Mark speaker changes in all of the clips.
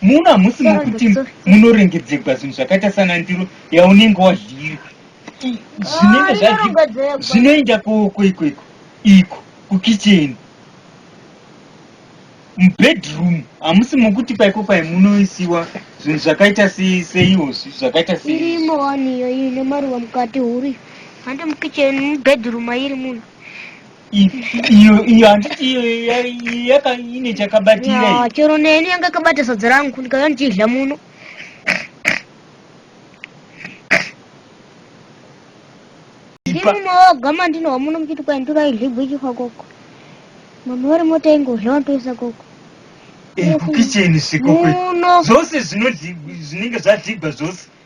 Speaker 1: Muno hamusi mukuti munorengedzegwa zvinhu zvakaita sana ndiro yaunenge wadliri zvinenge zvadii zvinoenda kooko iko iko iko kukicheni mubedroom hamusi mukuti paiko pai munoisiwa zvinhu zvakaita seiwo zvakaita seirimo wani
Speaker 2: iyoyi nemaruva mukati huri hande mukicheni mubedroom ayiri munhu iyo iyo
Speaker 1: handiti iyo yaka ine chakabatira chero neni yanga
Speaker 2: kabata sadza rangu ndikauya ndichidya muno ndimumawagama ndinowa muno muchiti kwai ndikaidlibwa ichifa koko mama vari mota ingodla wantoisa koko kukicheni
Speaker 1: svikoko zvose zvinenge zvadlibwa zvose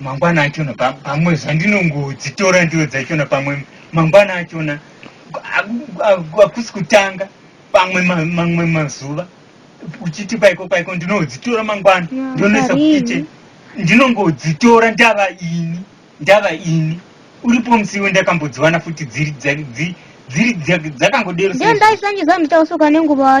Speaker 1: mangwana achona pamwe zvandinongodzitora ndiyo dzachona pamwe mangwana achona akusi kutanga pamwe mamwe mazuva uchiti paiko paiko ndinodzitora mangwana ndinonoisa kukichen ndinongodzitora ndava ini ndava ini uripo musiwo ndakambodziwana futi
Speaker 2: dziri dzakangodero
Speaker 1: ndaisangiza
Speaker 2: mutausuka
Speaker 1: nenguva